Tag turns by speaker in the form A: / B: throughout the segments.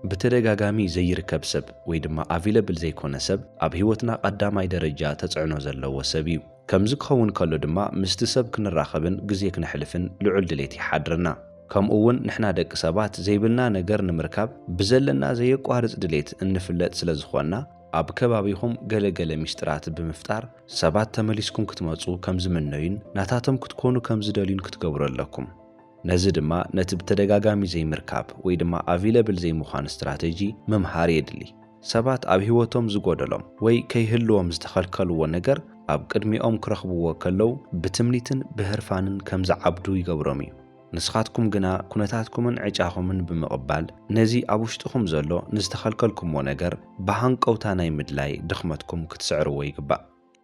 A: ብተደጋጋሚ ዘይርከብ ሰብ ወይ ድማ ኣቪለብል ዘይኮነ ሰብ ኣብ ህይወትና ቐዳማይ ደረጃ ተፅዕኖ ዘለዎ ሰብ እዩ። ከምዚ ክኸውን ከሎ ድማ ምስቲ ሰብ ክንራኸብን ግዜ ክነሕልፍን ልዑል ድሌት ይሓድረና። ከምኡ እውን ንሕና ደቂ ሰባት ዘይብልና ነገር ንምርካብ ብዘለና ዘየቋርፅ ድሌት እንፍለጥ ስለ ዝኾንና ኣብ ከባቢኹም ገለ ገለ ሚስጥራት ብምፍጣር ሰባት ተመሊስኩም ክትመፁ ከም ዝምነዩን ናታቶም ክትኮኑ ከም ዝደልዩን ክትገብሩ ኣለኩም። ነዚ ድማ ነቲ ብተደጋጋሚ ዘይምርካብ ወይ ድማ ኣቪለብል ዘይምዃን ስትራተጂ ምምሃር የድሊ። ሰባት ኣብ ህይወቶም ዝጎደሎም ወይ ከይህልዎም ዝተኸልከልዎ ነገር ኣብ ቅድሚኦም ክረኽብዎ ከለው ብትምኒትን ብህርፋንን ከም ዝዓብዱ ይገብሮም እዩ። ንስኻትኩም ግና ኩነታትኩምን ዕጫኹምን ብምቕባል ነዚ ኣብ ውሽጥኹም ዘሎ ንዝተኸልከልኩሞ ነገር ብሃንቀውታ ናይ ምድላይ ድኽመትኩም ክትስዕርዎ ይግባእ።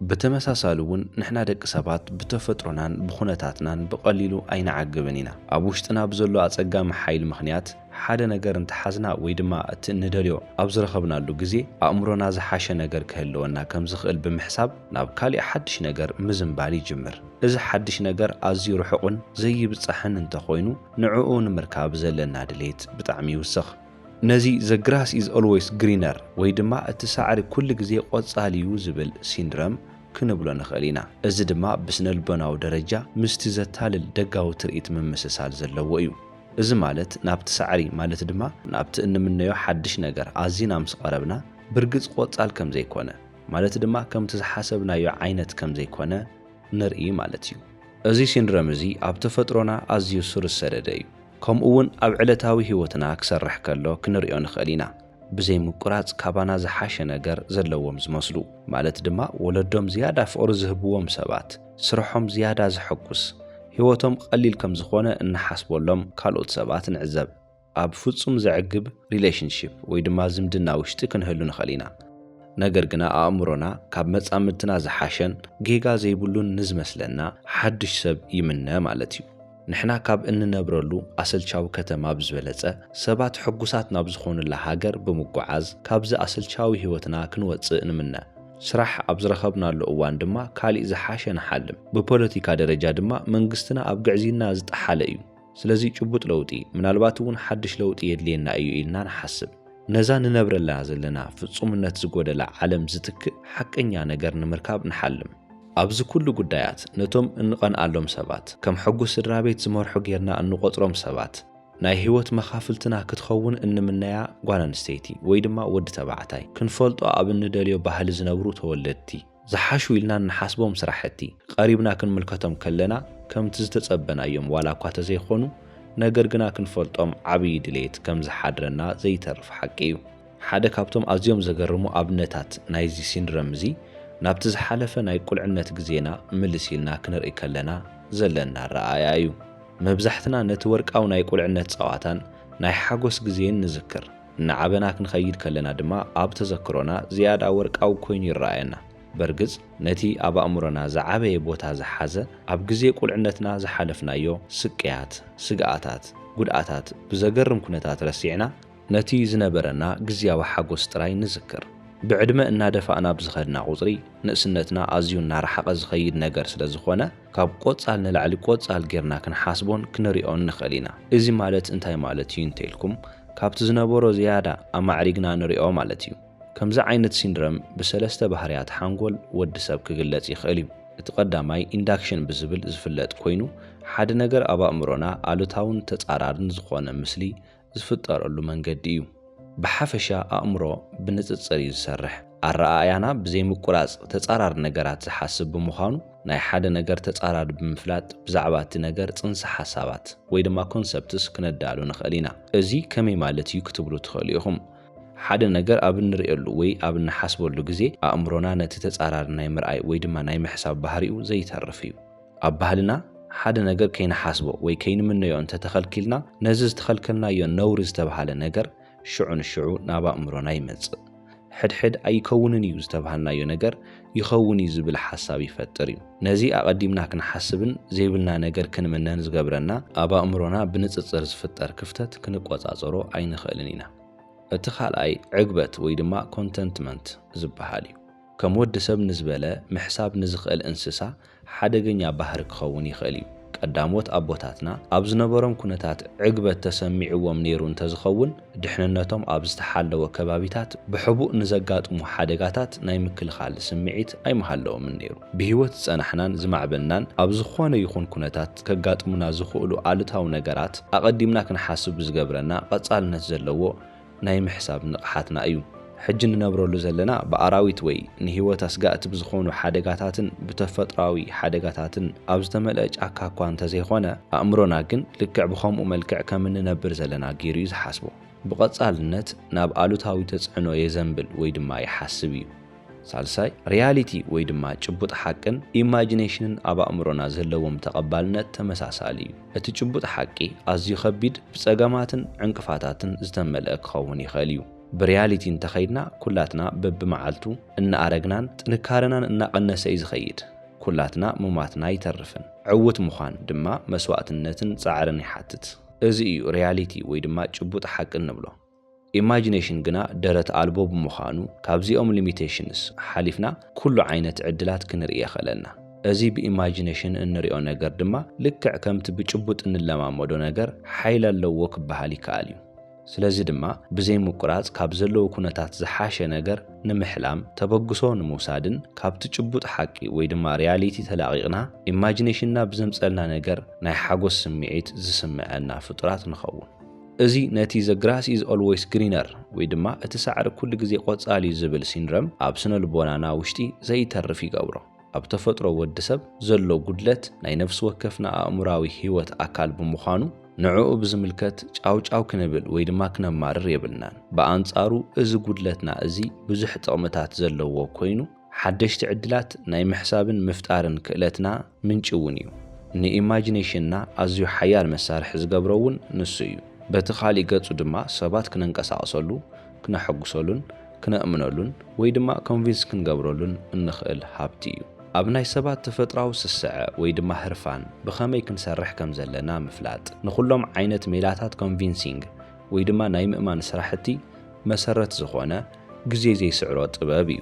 A: ብተመሳሳሊ እውን ንሕና ደቂ ሰባት ብተፈጥሮናን ብኹነታትናን ብቐሊሉ ኣይንዓግብን ኢና። ኣብ ውሽጥና ብዘሎ ኣጸጋሚ ሓይሊ ምኽንያት ሓደ ነገር እንተሓዝና ወይ ድማ እቲ እንደልዮ ኣብ ዝረኸብናሉ ግዜ ኣእምሮና ዝሓሸ ነገር ክህልወና ከም ዝኽእል ብምሕሳብ ናብ ካሊእ ሓድሽ ነገር ምዝንባል ይጅምር። እዚ ሓድሽ ነገር ኣዝዩ ርሑቕን ዘይብጻሕን እንተኾይኑ ንዕኡ ንምርካብ ዘለና ድሌት ብጣዕሚ ይውስኽ። ነዚ ዘ ግራስ ኢዝ ኦልዌይስ ግሪነር ወይ ድማ እቲ ሳዕሪ ኩሉ ግዜ ቆጻል'ዩ ዝብል ሲንድረም ክንብሎ ንኽእል ኢና። እዚ ድማ ብስነልቦናዊ ደረጃ ምስቲ ዘታልል ደጋዊ ትርኢት ምምስሳል ዘለዎ እዩ። እዚ ማለት ናብቲ ሳዕሪ ማለት ድማ ናብቲ እንምነዮ ሓድሽ ነገር ኣዚና ምስ ቐረብና ብርግጽ ቆጻል ከም ዘይኮነ ማለት ድማ ከምቲ ዝሓሰብናዮ ዓይነት ከም ዘይኮነ ንርኢ ማለት እዩ። እዚ ሲንድረም እዚ ኣብ ተፈጥሮና ኣዝዩ ሱር ዝሰደደ እዩ። ከምኡ'ውን ኣብ ዕለታዊ ህይወትና ክሰርሕ ከሎ ክንርእዮ ንኽእል ኢና። ብዘይ ምቁራጽ ካባና ዝሓሸ ነገር ዘለዎም ዝመስሉ፣ ማለት ድማ ወለዶም ዝያዳ ፍቕሪ ዝህብዎም ሰባት፣ ስርሖም ዝያዳ ዘሐጉስ፣ ህይወቶም ቐሊል ከም ዝኾነ እንሓስበሎም ካልኦት ሰባት ንዕዘብ። ኣብ ፍጹም ዘዕግብ relationship ወይ ድማ ዝምድና ውሽጢ ክንህሉ ንኽእል ኢና። ነገር ግና ኣእምሮና ካብ መጻምድትና ዝሓሸን ጌጋ ዘይብሉን ንዝመስለና ሓድሽ ሰብ ይምነ ማለት እዩ። ንሕና ካብ እንነብረሉ ኣሰልቻዊ ከተማ ብዝበለጸ፣ ሰባት ሕጉሳት ናብ ዝኾኑላ ሃገር ብምጉዓዝ ካብዚ ኣሰልቻዊ ህይወትና ክንወጽእ ንምነ። ስራሕ ኣብ ዝረኸብናሉ እዋን ድማ ካሊእ ዝሓሸ ንሓልም። ብፖለቲካ ደረጃ ድማ መንግስትና ኣብ ግዕዝይና ዝጠሓለ እዩ። ስለዚ ጭቡጥ ለውጢ፣ ምናልባት እውን ሓድሽ ለውጢ የድልየና እዩ ኢልና ንሓስብ። ነዛ ንነብረላ ዘለና ፍጹምነት ዝጎደላ ዓለም ዝትክእ ሓቀኛ ነገር ንምርካብ ንሓልም። ኣብዚ ኩሉ ጉዳያት ነቶም እንቐንኣሎም ሰባት፣ ከም ሕጉስ ስድራ ቤት ዝመርሑ ጌርና እንቖጽሮም ሰባት፣ ናይ ህይወት መኻፍልትና ክትኸውን እንምነያ ጓል ኣንስተይቲ ወይ ድማ ወዲ ተባዕታይ፣ ክንፈልጦ ኣብ እንደልዮ ባህሊ ዝነብሩ ተወለድቲ፣ ዝሓሹ ኢልና እንሓስቦም ስራሕቲ፣ ቀሪብና ክንምልከቶም ከለና ከምቲ ዝተጸበናዮም ዋላ እኳ ተዘይኮኑ፣ ነገር ግና ክንፈልጦም ዓብዪ ድሌት ከም ዝሓድረና ዘይተርፍ ሓቂ እዩ። ሓደ ካብቶም ኣዝዮም ዘገርሙ ኣብነታት ናይዚ ሲንድረም እዚ፣ ናብቲ ዝሓለፈ ናይ ቁልዕነት ግዜና ምልስ ኢልና ክንርኢ ከለና ዘለና ኣረኣእያ እዩ። መብዛሕትና ነቲ ወርቃዊ ናይ ቁልዕነት ጸዋታን ናይ ሓጎስ ግዜን ንዝክር። እናዓበና ክንኸይድ ከለና ድማ ኣብ ተዘክሮና ዝያዳ ወርቃዊ ኮይኑ ይረኣየና። በርግጽ ነቲ ኣብ ኣእምሮና ዝዓበየ ቦታ ዝሓዘ ኣብ ግዜ ቁልዕነትና ዝሓለፍናዮ ስቅያት፣ ስግኣታት፣ ጉድኣታት ብዘገርም ኩነታት ረሲዕና ነቲ ዝነበረና ግዝያዊ ሓጎስ ጥራይ ንዝክር። ብዕድመ እናደፋእና ብዝኸድና ቁጽሪ፣ ንእስነትና ኣዝዩ እናረሓቐ ዝኸይድ ነገር ስለ ዝኾነ፣ ካብ ቆጻል ንላዕሊ ቆጻል ጌርና ክንሓስቦን ክንሪኦን ንኽእል ኢና። እዚ ማለት እንታይ ማለት እዩ እንተ ኢልኩም፣ ካብቲ ዝነበሮ ዝያዳ ኣማዕሪግና ንሪኦ ማለት እዩ። ከምዚ ዓይነት ሲንድረም ብሰለስተ ባህርያት ሓንጎል ወዲ ሰብ ክግለጽ ይኽእል እዩ። እቲ ቀዳማይ ኢንዳክሽን ብዝብል ዝፍለጥ ኮይኑ፣ ሓደ ነገር ኣብ ኣእምሮና ኣሉታውን ተጻራርን ዝኾነ ምስሊ፣ ዝፍጠረሉ መንገዲ እዩ። ብሓፈሻ ኣእምሮ ብንጽጽር እዩ ዝሰርሕ። ኣረኣእያና ብዘይምቁራጽ ተጻራሪ ነገራት ዝሓስብ ብምዃኑ፣ ናይ ሓደ ነገር ተጻራሪ ብምፍላጥ ብዛዕባ እቲ ነገር ጽንሰ ሓሳባት ወይ ድማ ኮንሰፕትስ ክነዳሉ ንኽእል ኢና። እዚ ከመይ ማለት እዩ ክትብሉ ትኽእሉ ኢኹም። ሓደ ነገር ኣብ እንርእየሉ ወይ ኣብ እንሓስበሉ ግዜ ኣእምሮና ነቲ ተጻራሪ ናይ ምርኣይ ወይ ድማ ናይ ምሕሳብ ባህሪኡ ዘይተርፍ እዩ። ኣብ ባህልና ሓደ ነገር ከይንሓስቦ ወይ ከይንምነዮ እንተ ተኸልኪልና፣ ነዚ ዝተኸልከልናዮ ነውሪ ዝተብሃለ ነገር ሽዑ ንሽዑ ናብ ኣእምሮና ይመጽእ። ሕድሕድ ኣይከውንን እዩ ዝተብሃልናዮ ነገር ይኸውን እዩ ዝብል ሓሳብ ይፈጥር እዩ። ነዚ ኣቐዲምና ክንሓስብን ዘይብልና ነገር ክንምነን ዝገብረና ኣብ ኣእምሮና ብንጽጽር ዝፍጠር ክፍተት ክንቆጻጸሮ ኣይንኽእልን ኢና። እቲ ካልኣይ ዕግበት ወይ ድማ ኮንተንትመንት ዝበሃል እዩ። ከም ወዲ ሰብ ንዝበለ ምሕሳብ ንዝኽእል እንስሳ ሓደገኛ ባህሪ ክኸውን ይኽእል እዩ። ቀዳሞት ኣቦታትና ኣብ ዝነበሮም ኩነታት ዕግበት ተሰሚዕዎም ነይሩ እንተዝኸውን፣ ድሕንነቶም ኣብ ዝተሓለወ ከባቢታት ብሕቡእ ንዘጋጥሙ ሓደጋታት ናይ ምክልኻል ስምዒት ኣይምሃለዎምን ነይሩ። ብህይወት ዝጸናሕናን ዝማዕበልናን ኣብ ዝኾነ ይኹን ኩነታት ከጋጥሙና ዝኽእሉ ኣሉታዊ ነገራት ኣቐዲምና ክንሓስብ ብዝገብረና ቀጻልነት ዘለዎ ናይ ምሕሳብ ንቕሓትና እዩ። ሕጂ እንነብረሉ ዘለና ብኣራዊት ወይ ንህይወት ኣስጋእቲ ብዝኾኑ ሓደጋታትን ብተፈጥሮኣዊ ሓደጋታትን ኣብ ዝተመልአ ጫካ እኳ እንተዘይኮነ፣ ኣእምሮና ግን ልክዕ ብኸምኡ መልክዕ ከም እንነብር ዘለና ገይሩ እዩ ዝሓስቦ። ብቐጻልነት ናብ ኣሉታዊ ተጽዕኖ የዘንብል ወይ ድማ ይሓስብ እዩ። ሳልሳይ፣ ሪያሊቲ ወይ ድማ ጭቡጥ ሓቅን ኢማጂኔሽንን ኣብ ኣእምሮና ዘለዎም ተቐባልነት ተመሳሳሊ እዩ። እቲ ጭቡጥ ሓቂ ኣዝዩ ከቢድ፣ ብጸገማትን ዕንቅፋታትን ዝተመልአ ክኸውን ይኽእል እዩ። ብሪያሊቲ እንተኸይድና ኩላትና በብመዓልቱ እናኣረግናን ጥንካረናን እናቐነሰ እዩ ዝኸይድ። ኩላትና ምሟትና ኣይተርፍን። ዕዉት ምዃን ድማ መስዋእትነትን ጻዕርን ይሓትት። እዚ እዩ ሪያሊቲ ወይ ድማ ጭቡጥ ሓቂ እንብሎ። ኢማጂነሽን ግና ደረት ኣልቦ ብምዃኑ ካብዚኦም ሊሚተሽንስ ሓሊፍና ኩሉ ዓይነት ዕድላት ክንርኢ የኽእለና። እዚ ብኢማጂነሽን እንሪኦ ነገር ድማ ልክዕ ከምቲ ብጭቡጥ እንለማመዶ ነገር ሓይሊ ኣለዎ ክበሃል ይከኣል እዩ። ስለዚ ድማ ብዘይ ምቁራፅ ካብ ዘለዉ ኩነታት ዝሓሸ ነገር ንምሕላም፣ ተበግሶ ንምውሳድን ካብቲ ጭቡጥ ሓቂ ወይ ድማ ሪያሊቲ ተላቒቕና ኢማጂነሽንና ብዘምፀልና ነገር ናይ ሓጎስ ስምዒት ዝስመዐና ፍጡራት ንኸውን። እዚ ነቲ The Grass Is Always Greener ወይ ድማ እቲ ሳዕሪ ኩሉ ግዜ ቆጻል'ዩ ዝብል ሲንረም ኣብ ስነልቦናና ውሽጢ ዘይተርፍ ይገብሮ። ኣብ ተፈጥሮ ወዲ ሰብ ዘሎ ጉድለት ናይ ነፍሲ ወከፍና ኣእምሮኣዊ ህይወት ኣካል ብምዃኑ ንዕኡ ብዝምልከት ጫውጫው ክንብል ወይ ድማ ክነማርር የብልናን። ብኣንጻሩ እዚ ጉድለትና እዚ ብዙሕ ጥቕምታት ዘለዎ ኮይኑ፣ ሓደሽቲ ዕድላት ናይ ምሕሳብን ምፍጣርን ክእለትና ምንጪ እውን እዩ። ንኢማጂነሽንና ኣዝዩ ሓያል መሳርሒ ዝገብሮ እውን ንሱ እዩ። በቲ ኻሊእ ገፁ ድማ ሰባት ክነንቀሳቕሰሉ፣ ክነሐጉሰሉን ክነእምነሉን ወይ ድማ ኮንቪንስ ክንገብረሉን እንኽእል ሃብቲ እዩ። ኣብ ናይ ሰባት ተፈጥራዊ ስስዐ ወይ ድማ ህርፋን ብኸመይ ክንሰርሕ ከም ዘለና ምፍላጥ ንኹሎም ዓይነት ሜላታት ኮንቪንሲንግ ወይ ድማ ናይ ምእማን ስራሕቲ መሰረት ዝኾነ ግዜ ዘይስዕሮ ጥበብ እዩ።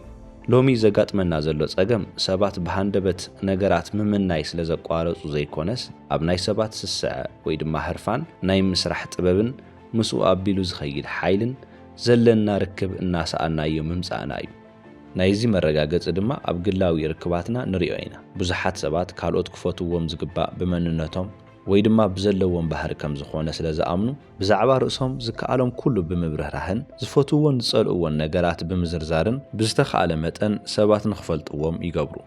A: ሎሚ ዘጋጥመና ዘሎ ጸገም ሰባት ብሃንደበት ነገራት ምምናይ ስለ ዘቋረጹ ዘይኮነስ ኣብ ናይ ሰባት ስስዐ ወይ ድማ ህርፋን ናይ ምስራሕ ጥበብን ምስኡ ኣቢሉ ዝኸይድ ሓይልን ዘለና ርክብ እናሰኣናዮ ምምጻእና እዩ። ናይዚ መረጋገጺ ድማ ኣብ ግላዊ ርክባትና ንሪኦ ኢና። ብዙሓት ሰባት ካልኦት ክፈትውዎም ዝግባእ ብመንነቶም ወይ ድማ ብዘለዎም ባህሪ ከም ዝኾነ ስለ ዝኣምኑ፣ ብዛዕባ ርእሶም ዝከኣሎም ኩሉ ብምብርህራህን ዝፈትውዎን ዝጸልእዎን ነገራት ብምዝርዛርን ብዝተኻእለ መጠን ሰባት ንኽፈልጥዎም ይገብሩ።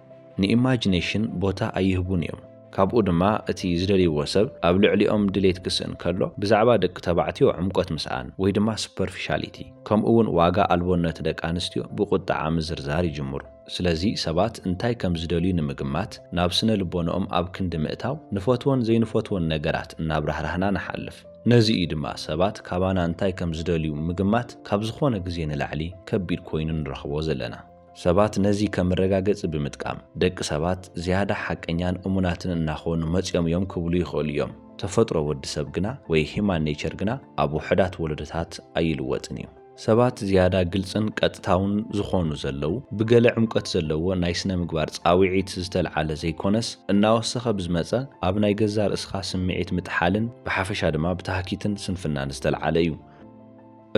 A: ንኢማጂነሽን ቦታ ኣይህቡን እዮም። ካብኡ ድማ እቲ ዝደልይዎ ሰብ ኣብ ልዕሊኦም ድሌት ክስእን ከሎ ብዛዕባ ደቂ ተባዕትዮ ዕምቆት ምስኣን ወይ ድማ ሱፐርፊሻሊቲ ከምኡ'ውን ዋጋ ኣልቦነት ደቂ ኣንስትዮ ብቑጠዓ ምዝርዛር ይጅምሩ። ስለዚ ሰባት እንታይ ከም ዝደልዩ ንምግማት ናብ ስነ ልቦንኦም ኣብ ክንዲ ምእታው ንፈትዎን ዘይንፈትዎን ነገራት እናብራህራህና ንሓልፍ። ነዚ እዩ ድማ ሰባት ካባና እንታይ ከም ዝደልዩ ምግማት ካብ ዝኾነ ግዜ ንላዕሊ ከቢድ ኮይኑ ንረኽቦ ዘለና። ሰባት ነዚ ከም መረጋገጺ ብምጥቃም ደቂ ሰባት ዝያዳ ሓቀኛን እሙናትን እናኾኑ መጺኦም እዮም ክብሉ ይኽእሉ እዮም። ተፈጥሮ ወዲ ሰብ ግና ወይ Human Nature ግና ኣብ ውሑዳት ወለዶታት ኣይልወጥን እዩ። ሰባት ዝያዳ ግልጽን ቀጥታውን ዝኾኑ ዘለዉ፣ ብገለ ዕምቆት ዘለዎ ናይ ስነ-ምግባር ጻውዒት ዝተልዓለ ዘይኮነስ፣ እናወሰኸ ብዝመጸ ኣብ ናይ ገዛእ ርእስኻ ስምዒት ምጥሓልን ብሓፈሻ ድማ ብታህኪትን ስንፍናን ዝተልዓለ እዩ።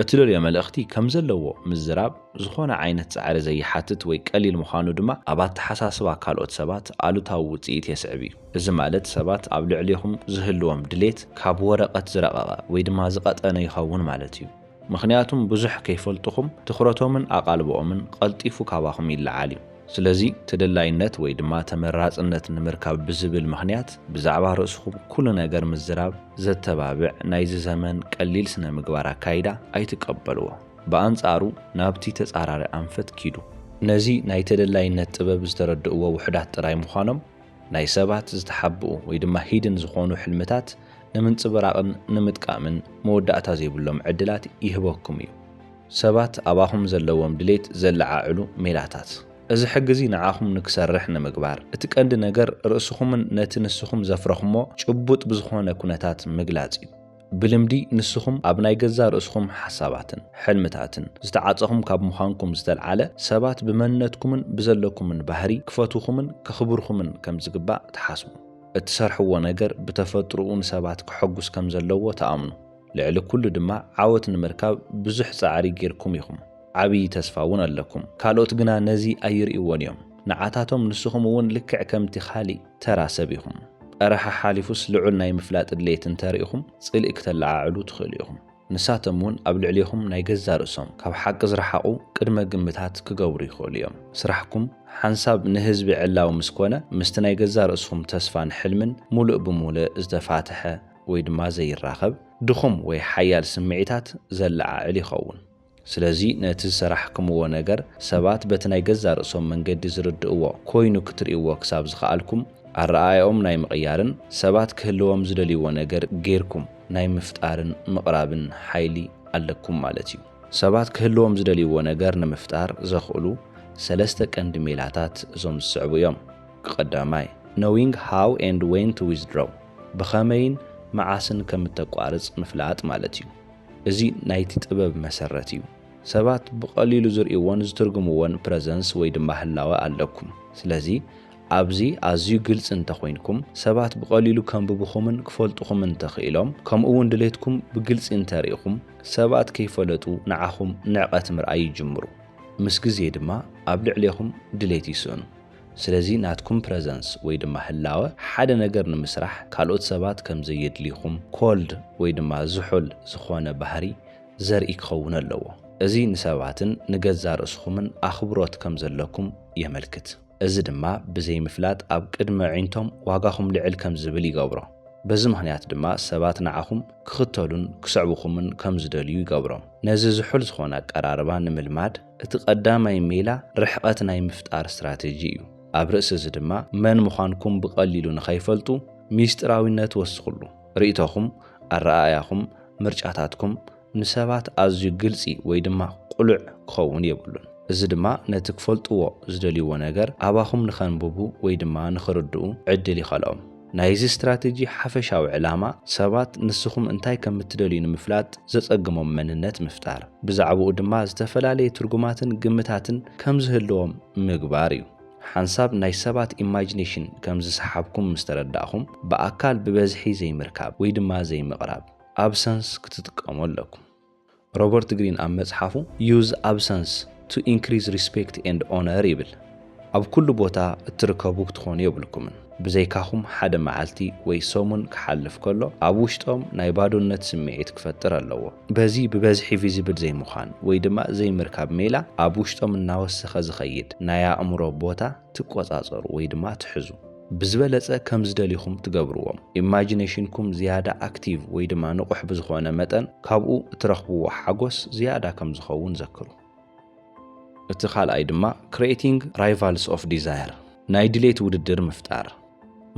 A: እቲ ደልዮ መልእኽቲ ከም ዘለዎ ምዝራብ ዝኾነ ዓይነት ጻዕሪ ዘይሓትት ወይ ቀሊል ምዃኑ ድማ ኣብ ኣተሓሳስባ ካልኦት ሰባት ኣሉታዊ ውጽኢት የስዕብ እዩ። እዚ ማለት ሰባት ኣብ ልዕሌኹም ዝህልዎም ድሌት ካብ ወረቐት ዝረቐቐ ወይ ድማ ዝቐጠነ ይኸውን ማለት እዩ። ምኽንያቱም ብዙሕ ከይፈልጡኹም ትኹረቶምን ኣቓልቦኦምን ቐልጢፉ ካባኹም ይለዓል እዩ። ስለዚ ተደላይነት ወይ ድማ ተመራጽነት ንምርካብ ብዝብል ምኽንያት ብዛዕባ ርእስኹም ኩሉ ነገር ምዝራብ ዘተባብዕ ናይዚ ዘመን ቀሊል ስነ-ምግባር ኣካይዳ ኣይትቀበልዎ። ብኣንጻሩ ናብቲ ተጻራሪ ኣንፈት ኪዱ። ነዚ ናይ ተደላይነት ጥበብ ዝተረድእዎ ውሑዳት ጥራይ ምዃኖም ናይ ሰባት ዝተሓብኡ ወይ ድማ ሂድን ዝኾኑ ሕልምታት ንምንፅብራቕን ንምጥቃምን መወዳእታ ዘይብሎም ዕድላት ይህበኩም እዩ። ሰባት ኣባኹም ዘለዎም ድሌት ዘለዓዕሉ ሜላታት። እዚ ሕጊ እዚ ንዓኹም ንክሰርሕ ንምግባር፣ እቲ ቀንዲ ነገር ርእስኹምን ነቲ ንስኹም ዘፍረኹሞ ጭቡጥ ብዝኾነ ኩነታት ምግላፅ እዩ። ብልምዲ ንስኹም ኣብ ናይ ገዛ ርእስኹም ሓሳባትን ሕልምታትን ዝተዓጸኹም ካብ ምዃንኩም ዝተልዓለ፣ ሰባት ብመንነትኩምን ብዘለኩምን ባህሪ ክፈትዉኹምን ከኽብሩኹምን ከም ዝግባእ ትሓስቡ። እትሰርሕዎ ነገር ብተፈጥሮኡ ንሰባት ከሐጉስ ከም ዘለዎ ትኣምኑ። ልዕሊ ኩሉ ድማ ዓወት ንምርካብ ብዙሕ ጻዕሪ ጌርኩም ኢኹም። ዓብዪ ተስፋ እውን ኣለኩም። ካልኦት ግና ነዚ ኣይርእይዎን እዮም። ንዓታቶም ንስኹም እውን ልክዕ ከምቲ ኻሊእ ተራ ሰብ ኢኹም። ቘረሓ ሓሊፉስ ልዑል ናይ ምፍላጥ ድሌት እንተ ርኢኹም ጽልኢ ክተለዓዕሉ ትኽእሉ ኢኹም። ንሳቶም እውን ኣብ ልዕሌኹም ናይ ገዛእ ርእሶም ካብ ሓቂ ዝረሓቑ ቅድመ ግምታት ክገብሩ ይኽእሉ እዮም። ስራሕኩም ሓንሳብ ንህዝቢ ዕላዊ ምስ ኰነ ምስቲ ናይ ገዛእ ርእስኹም ተስፋን ሕልምን ምሉእ ብምሉእ ዝተፋትሐ ወይ ድማ ዘይራኸብ ድኹም ወይ ሓያል ስምዒታት ዘለዓዕል ይኸውን። ስለዚ ነቲ ዝሰራሕክምዎ ነገር ሰባት በቲ ናይ ገዛእ ርእሶም መንገዲ ዝርድእዎ ኮይኑ ክትርእይዎ ክሳብ ዝኸኣልኩም ኣረኣእያኦም ናይ ምቕያርን ሰባት ክህልዎም ዝደልይዎ ነገር ገይርኩም ናይ ምፍጣርን ምቕራብን ሓይሊ ኣለኩም ማለት እዩ። ሰባት ክህልዎም ዝደልይዎ ነገር ንምፍጣር ዘኽእሉ ሰለስተ ቀንዲ ሜላታት እዞም ዝስዕቡ እዮም። ቀዳማይ፣ Knowing how and when to withdraw፣ ብኸመይን መዓስን ከም እተቋርጽ ምፍላጥ ማለት እዩ። እዚ ናይቲ ጥበብ መሰረት እዩ። ሰባት ብቐሊሉ ዝርእይዎን ዝትርጉምዎን ፕረዘንስ ወይ ድማ ህላወ ኣለኩም። ስለዚ ኣብዚ ኣዝዩ ግልጺ እንተኾይንኩም፣ ሰባት ብቐሊሉ ከንብቡኹምን ክፈልጡኹምን እንተኽኢሎም፣ ከምኡ'ውን ድሌትኩም ብግልጺ እንተርኢኹም፣ ሰባት ከይፈለጡ ንዓኹም ንዕቐት ምርኣይ ይጅምሩ። ምስ ግዜ ድማ ኣብ ልዕሌኹም ድሌት ይስእኑ። ስለዚ ናትኩም ፕረዘንስ ወይ ድማ ህላወ ሓደ ነገር ንምስራሕ ካልኦት ሰባት ከም ዘየድልዩኹም Cold ወይ ድማ ዝሑል ዝኾነ ባህሪ ዘርኢ ክኸውን ኣለዎ። እዚ ንሰባትን ንገዛእ ርእስኹምን ኣኽብሮት ከም ዘለኩም የመልክት። እዚ ድማ ብዘይ ምፍላጥ ኣብ ቅድሚ ኣዒንቶም ዋጋኹም ልዕል ከም ዝብል ይገብሮ። በዚ ምኽንያት ድማ ሰባት ንዓኹም ክኽተሉን ክስዕቡኹምን ከም ዝደልዩ ይገብሮም። ነዚ ዝሑል ዝኾነ ኣቀራርባ ንምልማድ፣ እቲ ቀዳማይ ሜላ ርሕቐት ናይ ምፍጣር ስትራቴጂ እዩ። ኣብ ርእሲ እዚ ድማ መን ምዃንኩም ብቐሊሉ ንኸይፈልጡ ሚስጢራዊነት ወስኽሉ። ርእይቶኹም፣ ኣረኣእያኹም፣ ምርጫታትኩም ንሰባት ኣዝዩ ግልጺ ወይ ድማ ቅሉዕ ክኸውን የብሉን። እዚ ድማ ነቲ ክፈልጥዎ ዝደልይዎ ነገር ኣባኹም ንኸንብቡ ወይ ድማ ንኽርድኡ ዕድል ይኸልኦም። ናይዚ ስትራቴጂ ሓፈሻዊ ዕላማ፣ ሰባት ንስኹም እንታይ ከም እትደልዩ ንምፍላጥ ዘጸግሞም መንነት ምፍጣር፣ ብዛዕባኡ ድማ ዝተፈላለየ ትርጉማትን ግምታትን ከም ዝህልዎም ምግባር እዩ። ሓንሳብ ናይ ሰባት ኢማጂነሽን ከም ዝሰሓብኩም ምስ ተረዳእኹም፣ ብኣካል ብበዝሒ ዘይምርካብ ወይ ድማ ዘይምቕራብ፣ Absence፣ ክትጥቀሙ ኣለኩም። ሮበርት ግሪን ኣብ መጽሓፉ Use Absence to Increase Respect and Honor ይብል፣ ኣብ ኩሉ ቦታ እትርከቡ ክትኾኑ የብልኩምን። ብዘይካኹም ሓደ መዓልቲ ወይ ሰሙን ክሓልፍ ከሎ ኣብ ውሽጦም ናይ ባዶነት ስምዒት ክፈጥር ኣለዎ። በዚ ብበዝሒ ቪዚብል ዘይምዃን ወይ ድማ ዘይምርካብ ሜላ ኣብ ውሽጦም እናወሰኸ ዝኸይድ ናይ ኣእምሮ ቦታ፣ ትቆጻጸሩ ወይ ድማ ትሕዙ። ብዝበለጸ ከም ዝደልኹም ትገብርዎም። ኢማጂነሽንኩም ዝያዳ ኣክቲቭ ወይ ድማ ንቑሕ ብዝኾነ መጠን ካብኡ እትረኽብዎ ሓጎስ ዝያዳ ከም ዝኸውን ዘክሩ። እቲ ካልኣይ ድማ Creating Rivals of Desire፣ ናይ ድሌት ውድድር ምፍጣር።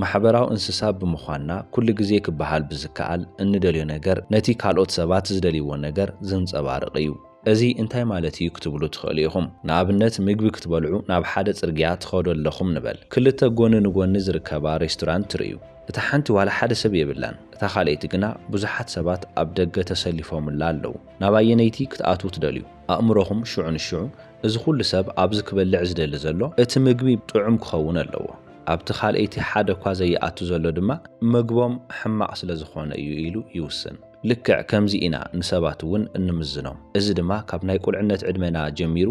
A: ማሕበራዊ እንስሳ ብምዃንና፣ ኩሉ ግዜ ክበሃል ብዝከኣል እንደልዮ ነገር ነቲ ካልኦት ሰባት ዝደልይዎ ነገር ዘንጸባርቕ እዩ። እዚ እንታይ ማለት እዩ ክትብሉ ትኽእሉ ኢኹም። ንኣብነት ምግቢ ክትበልዑ ናብ ሓደ ጽርግያ ትኸዱ ኣለኹም ንበል። ክልተ ጎኒ ንጎኒ ዝርከባ ሬስቶራንት ትርእዩ። እታ ሓንቲ ዋላ ሓደ ሰብ የብላን፣ እታ ካልኣይቲ ግና ብዙሓት ሰባት ኣብ ደገ ተሰሊፎምላ ኣለዉ። ናብ ኣየነይቲ ክትኣትዉ ትደልዩ? ኣእምሮኹም ሽዑ ንሽዑ እዚ ኩሉ ሰብ ኣብዚ ክበልዕ ዝደሊ ዘሎ እቲ ምግቢ ጥዑም ክኸውን ኣለዎ። ኣብቲ ካልኣይቲ ሓደ'ኳ ዘይኣቱ ዘሎ ድማ መግቦም ሕማቕ ስለ ዝኾነ እዩ ኢሉ ይውስን። ልክዕ ከምዚ ኢና ንሰባት እውን እንምዝኖም። እዚ ድማ ካብ ናይ ቁልዕነት ዕድመና ጀሚሩ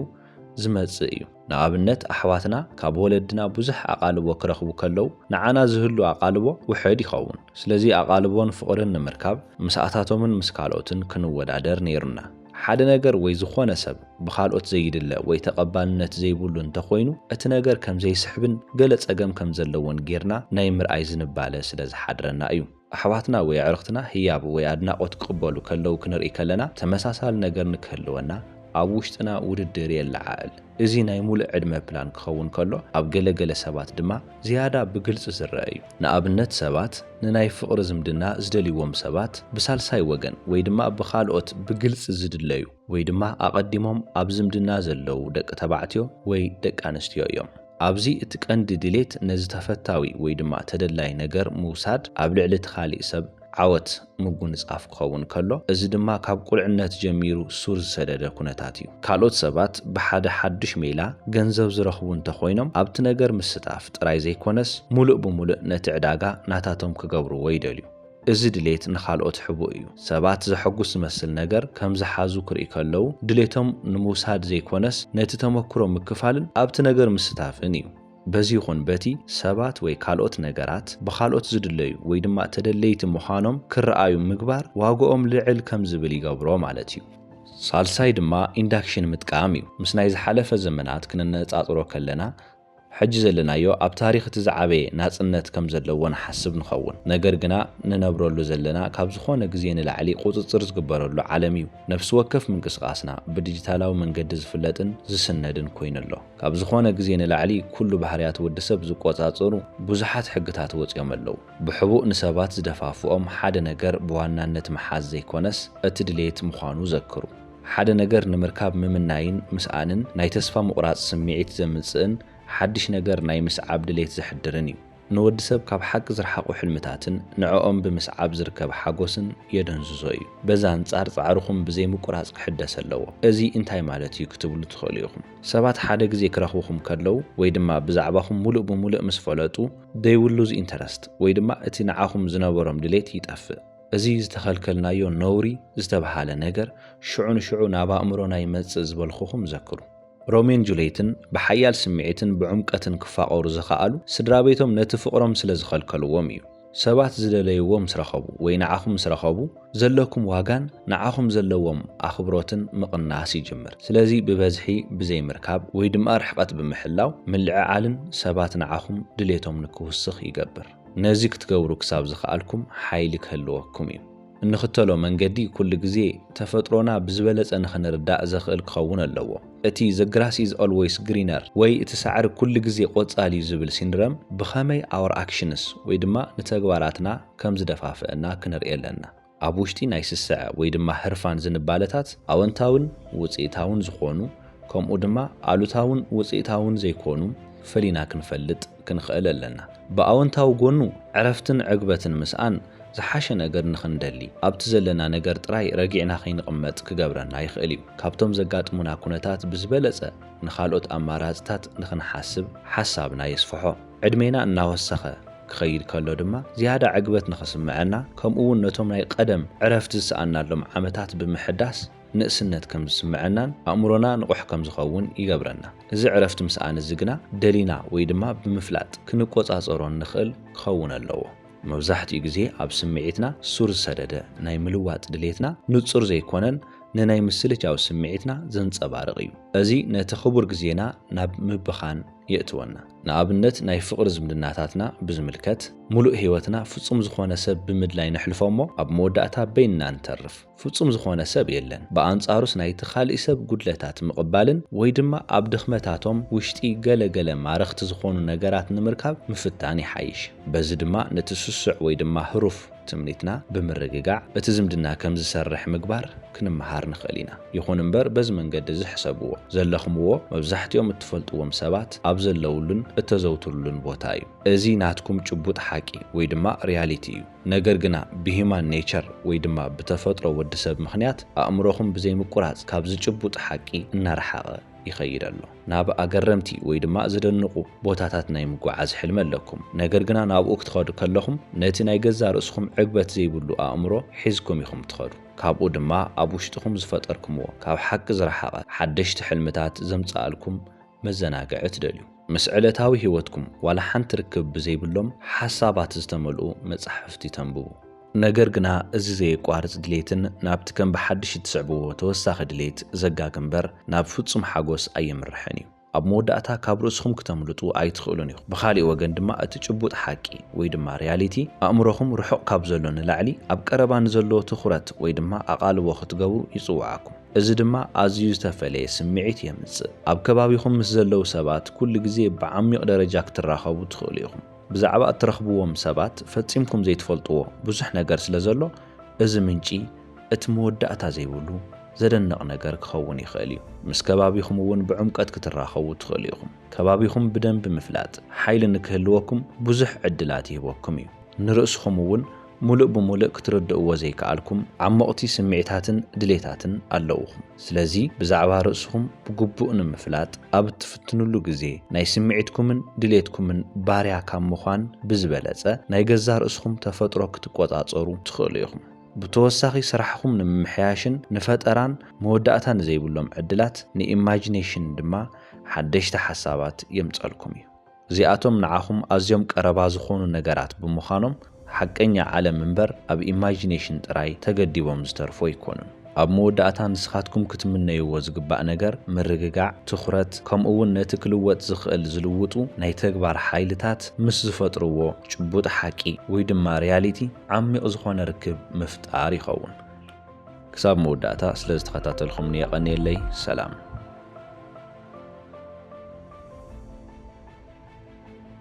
A: ዝመጽእ እዩ። ንኣብነት ኣሕዋትና ካብ ወለድና ብዙሕ ኣቓልቦ ክረኽቡ ከለው ንዓና ዝህሉ ኣቓልቦ ውሕድ ይኸውን። ስለዚ ኣቓልቦን ፍቕርን ንምርካብ ምስኣታቶምን ምስ ካልኦትን ክንወዳደር ነይሩና። ሓደ ነገር ወይ ዝኾነ ሰብ ብኻልኦት ዘይድለ ወይ ተቐባልነት ዘይብሉ እንተኾይኑ እቲ ነገር ከም ዘይስሕብን ገለ ጸገም ከም ዘለዎን ጌርና ናይ ምርኣይ ዝንባለ ስለ ዝሓድረና እዩ። ኣሕዋትና ወይ ኣዕርኽትና ህያብ ወይ ኣድናቖት ክቕበሉ ከለዉ ክንርኢ ከለና ተመሳሳሊ ነገር ንክህልወና ኣብ ውሽጥና ውድድር የለዓዕል። እዚ ናይ ምሉእ ዕድመ ፕላን ክኸውን ከሎ ኣብ ገለ ገለ ሰባት ድማ ዝያዳ ብግልጺ ዝረኣ እዩ። ንኣብነት ሰባት ንናይ ፍቕሪ ዝምድና ዝደልይዎም ሰባት ብሳልሳይ ወገን ወይ ድማ ብኻልኦት ብግልጺ ዝድለዩ ወይ ድማ ኣቐዲሞም ኣብ ዝምድና ዘለዉ ደቂ ተባዕትዮ ወይ ደቂ ኣንስትዮ እዮም። ኣብዚ እቲ ቀንዲ ድሌት ነዚ ተፈታዊ ወይ ድማ ተደላይ ነገር ምውሳድ ኣብ ልዕሊ እቲ ካሊእ ሰብ፣ ዓወት ምጉንጻፍ ክኸውን ከሎ፣ እዚ ድማ ካብ ቁልዕነት ጀሚሩ ሱር ዝሰደደ ኩነታት እዩ። ካልኦት ሰባት ብሓደ ሓዱሽ ሜላ ገንዘብ ዝረኽቡ እንተ ኾይኖም፣ ኣብቲ ነገር ምስታፍ ጥራይ ዘይኮነስ ምሉእ ብምሉእ ነቲ ዕዳጋ ናታቶም ክገብርዎ ይደልዩ። እዚ ድሌት ንኻልኦት ሕቡእ እዩ። ሰባት ዘሐጉስ ዝመስል ነገር ከም ዝሓዙ ክርእዩ ከለዉ፣ ድሌቶም ንምውሳድ ዘይኮነስ ነቲ ተመክሮ ምክፋልን ኣብቲ ነገር ምስታፍን እዩ። በዚ ይኹን በቲ ሰባት ወይ ካልኦት ነገራት ብኻልኦት ዝድለዩ ወይ ድማ ተደለይቲ ምዃኖም ክረኣዩ ምግባር ዋግኦም ልዕል ከም ዝብል ይገብሮ ማለት እዩ። ሳልሳይ ድማ ኢንዳክሽን ምጥቃም እዩ። ምስ ናይ ዝሓለፈ ዘመናት ክነነጻጽሮ ከለና ሕጂ ዘለናዮ ኣብ ታሪኽ እቲ ዝዓበየ ናጽነት ከም ዘለዎ ንሓስብ ንኸውን። ነገር ግና ንነብረሉ ዘለና ካብ ዝኾነ ግዜ ንላዕሊ ቁጽጽር ዝግበረሉ ዓለም እዩ። ነፍሲ ወከፍ ምንቅስቓስና ብዲጂታላዊ መንገዲ ዝፍለጥን ዝስነድን ኮይኑ ኣሎ። ካብ ዝኾነ ግዜ ንላዕሊ ኩሉ ባህርያት ወዲ ሰብ ዝቆጻጸሩ ብዙሓት ሕግታት ወጺኦም ኣለዉ። ብሕቡእ ንሰባት ዝደፋፍኦም ሓደ ነገር ብዋናነት ምሓዝ ዘይኮነስ እቲ ድሌት ምዃኑ ዘክሩ። ሓደ ነገር ንምርካብ ምምናይን ምስኣንን ናይ ተስፋ ምቑራጽ ስምዒት ዘምጽእን ሓድሽ ነገር ናይ ምስዓብ ድሌት ዘሕድርን እዩ። ንወዲ ሰብ ካብ ሓቂ ዝርሓቑ ሕልምታትን ንዕኦም ብምስዓብ ዝርከብ ሓጎስን የደንዝዞ እዩ። በዚ ኣንጻር ጻዕርኹም ብዘይምቁራጽ ክሕደስ ኣለዎ። እዚ እንታይ ማለት እዩ ክትብሉ ትኽእሉ ኢኹም። ሰባት ሓደ ግዜ ክረኽብኹም ከለዉ ወይ ድማ ብዛዕባኹም ምሉእ ብምሉእ ምስ ፈለጡ they will lose interest ወይ ድማ እቲ ንዓኹም ዝነበሮም ድሌት ይጠፍእ። እዚ ዝተኸልከልናዮ ነውሪ ዝተብሃለ ነገር ሽዑ ንሽዑ ናብ ኣእምሮና ይመጽእ ዝበልኹኹም ዘክሩ። ሮሜን ጁልየትን ብሓያል ስምዒትን ብዕምቀትን ክፋቐሩ ዝኸኣሉ፣ ስድራቤቶም ነቲ ፍቕሮም ስለ ዝኸልከልዎም እዩ። ሰባት ዝደለይዎ ምስ ረኸቡ ወይ ንዓኹም ምስ ረኸቡ፣ ዘለኩም ዋጋን ንዓኹም ዘለዎም ኣኽብሮትን ምቕናስ ይጅምር። ስለዚ ብበዝሒ ብዘይምርካብ ወይ ድማ ርሕቐት ብምሕላው ምልዕዓልን ሰባት ንዓኹም ድሌቶም ንክውስኽ ይገብር። ነዚ ክትገብሩ ክሳብ ዝኸኣልኩም ሓይሊ ክህልወኩም እዩ። እንኽተሎ መንገዲ ኩሉ ግዜ ተፈጥሮና ብዝበለጸ ንኽንርዳእ ዘኽእል ክኸውን ኣለዎ። እቲ The Grass Is Always Greener ወይ እቲ ሳዕሪ ኩሉ ግዜ ቆጻል እዩ ዝብል ሲንድረም ብኸመይ Our Actions ወይ ድማ ንተግባራትና ከም ዝደፋፍእና ክንርኢ ኣለና። ኣብ ውሽጢ ናይ ስስዐ ወይ ድማ ህርፋን ዝንባለታት ኣወንታዊን ውጽኢታውን ዝኾኑ ከምኡ ድማ ኣሉታውን ውጽኢታውን ዘይኮኑ ፈሊና ክንፈልጥ ክንኸእል ኣለና። ብኣወንታዊ ጎኑ ዕረፍትን ዕግበትን ምስኣን ዝሓሸ ነገር ንክንደሊ ኣብቲ ዘለና ነገር ጥራይ ረጊዕና ከይንቕመጥ ክገብረና ይኽእል እዩ። ካብቶም ዘጋጥሙና ኩነታት ብዝበለጸ ንካልኦት ኣማራጽታት ንክንሓስብ ሓሳብና የስፍሖ። ዕድሜና እናወሰኸ ክኸይድ ከሎ ድማ ዝያዳ ዕግበት ንክስምዐና ከምኡ'ውን ነቶም ናይ ቐደም ዕረፍቲ ዝሰኣንናሎም ዓመታት ብምሕዳስ ንእስነት ከም ዝስምዐናን ኣእምሮና ንቑሕ ከም ዝኸውን ይገብረና። እዚ ዕረፍቲ ምስኣን እዚ ግና ደሊና ወይ ድማ ብምፍላጥ ክንቆጻጸሮ እንኽእል ክኸውን ኣለዎ። መብዛሕትኡ ግዜ ኣብ ስምዒትና ሱር ዝሰደደ ናይ ምልዋጥ ድሌትና ንጹር ዘይኮነን ንናይ ምስልቻው ስምዒትና ዘንጸባርቕ እዩ። እዚ ነቲ ክቡር ግዜና ናብ ምብኻን የእትወና። ንኣብነት ናይ ፍቕሪ ዝምድናታትና ብዝምልከት፣ ምሉእ ህይወትና ፍጹም ዝኾነ ሰብ ብምድላይ ነሕልፎ እሞ ኣብ መወዳእታ በይንና ንተርፍ። ፍጹም ዝኾነ ሰብ የለን። ብኣንጻሩስ ናይቲ ካልእ ሰብ ጉድለታት ምቕባልን ወይ ድማ ኣብ ድኽመታቶም ውሽጢ ገለ ገለ ማረኽቲ ዝኾኑ ነገራት ንምርካብ ምፍታን ይሓይሽ። በዚ ድማ ነቲ ስሱዕ ወይ ድማ ህሩፍ ትምኒትና ብምርግጋዕ እቲ ዝምድና ከም ዝሰርሕ ምግባር ክንመሃር ንኽእል ኢና። ይኹን እምበር በዚ መንገዲ እዚ ሕሰብዎ። ዘለኽምዎ መብዛሕትኦም እትፈልጥዎም ሰባት ኣብ ዘለውሉን እተዘውትሩሉን ቦታ እዩ። እዚ ናትኩም ጭቡጥ ሓቂ ወይ ድማ ሪያሊቲ እዩ። ነገር ግና ብሂማን ኔቸር ወይ ድማ ብተፈጥሮ ወዲ ሰብ ምኽንያት ኣእምሮኹም ብዘይ ምቁራጽ ካብዚ ጭቡጥ ሓቂ እናረሓቐ ይኸይድ ኣሎ። ናብ ኣገረምቲ ወይ ድማ ዝደንቑ ቦታታት ናይ ምጉዓዝ ሕልሚ ኣለኩም። ነገር ግና ናብኡ ክትኸዱ ከለኹም ነቲ ናይ ገዛእ ርእስኹም ዕግበት ዘይብሉ ኣእምሮ ሒዝኩም ኢኹም ትኸዱ። ካብኡ ድማ ኣብ ውሽጥኹም ዝፈጠርኩምዎ ካብ ሓቂ ዝረሓቐ ሓደሽቲ ሕልምታት ዘምጽኣልኩም መዘናግዒ ትደልዩ። ምስ ዕለታዊ ህይወትኩም ዋላ ሓንቲ ርክብ ብዘይብሎም ሓሳባት ዝተመልኡ መጻሕፍቲ ተንብቡ። ነገር ግና እዚ ዘየቋርጽ ድሌትን ናብቲ ከም ብሓድሽ እትስዕብዎ ተወሳኺ ድሌት ዘጋግ እምበር ናብ ፍጹም ሓጎስ ኣየምርሕን እዩ። ኣብ መወዳእታ ካብ ርእስኹም ክተምልጡ ኣይትኽእሉን ኢኹም። ብኻሊእ ወገን ድማ እቲ ጭቡጥ ሓቂ ወይ ድማ ሪያሊቲ ኣእምሮኹም ርሑቕ ካብ ዘሎ ንላዕሊ ኣብ ቀረባ ንዘሎ ትኹረት ወይ ድማ ኣቓልቦ ክትገብሩ ይጽውዓኩም። እዚ ድማ ኣዝዩ ዝተፈለየ ስምዒት የምጽእ። ኣብ ከባቢኹም ምስ ዘለዉ ሰባት ኩሉ ግዜ ብዓሚቕ ደረጃ ክትራኸቡ ትኽእሉ ኢኹም። ብዛዕባ እትረኽብዎም ሰባት ፈጺምኩም ዘይትፈልጥዎ ብዙሕ ነገር ስለ ዘሎ፣ እዚ ምንጪ እቲ መወዳእታ ዘይብሉ ዘደንቕ ነገር ክኸውን ይኽእል እዩ። ምስ ከባቢኹም እውን ብዕምቈት ክትራኸቡ ትኽእሉ ኢኹም። ከባቢኹም ብደንቢ ምፍላጥ፣ ሓይሊ ንክህልወኩም ብዙሕ ዕድላት ይህበኩም እዩ። ንርእስኹም እውን ሙሉእ ብሙልእ ክትርድእዎ ዘይከኣልኩም ዓሞቕቲ ስምዒታትን ድሌታትን ኣለዉኹም። ስለዚ ብዛዕባ ርእስኹም ብግቡእ ንምፍላጥ ኣብ እትፍትንሉ ግዜ ናይ ስምዒትኩምን ድሌትኩምን ባርያ ካብ ምዃን ብዝበለጸ ናይ ገዛ ርእስኹም ተፈጥሮ ክትቆጻጸሩ ትኽእሉ ኢኹም። ብተወሳኺ ስራሕኹም ንምምሕያሽን ንፈጠራን መወዳእታ ንዘይብሎም ዕድላት፣ ንኢማጂኔሽን፣ ድማ ሓደሽቲ ሓሳባት የምጸልኩም እዩ። እዚኣቶም ንዓኹም ኣዝዮም ቀረባ ዝኾኑ ነገራት ብምዃኖም፣ ሓቀኛ ዓለም እምበር ኣብ ኢማጂኔሽን ጥራይ ተገዲቦም ዝተርፉ ኣይኮኑን። ኣብ መወዳእታ ንስኻትኩም ክትምነይዎ ዝግባእ ነገር ምርግጋዕ፣ ትኹረት፣ ከምኡ'ውን ነቲ ክልወጥ ዝኽእል ዝልውጡ ናይ ተግባር ሓይልታት ምስ ዝፈጥርዎ ጭቡጥ ሓቂ ወይ ድማ ሪያሊቲ ዓሚቕ ዝኾነ ርክብ ምፍጣር ይኸውን። ክሳብ መወዳእታ ስለ ዝተኸታተልኹምኒ የቐንየለይ። ሰላም።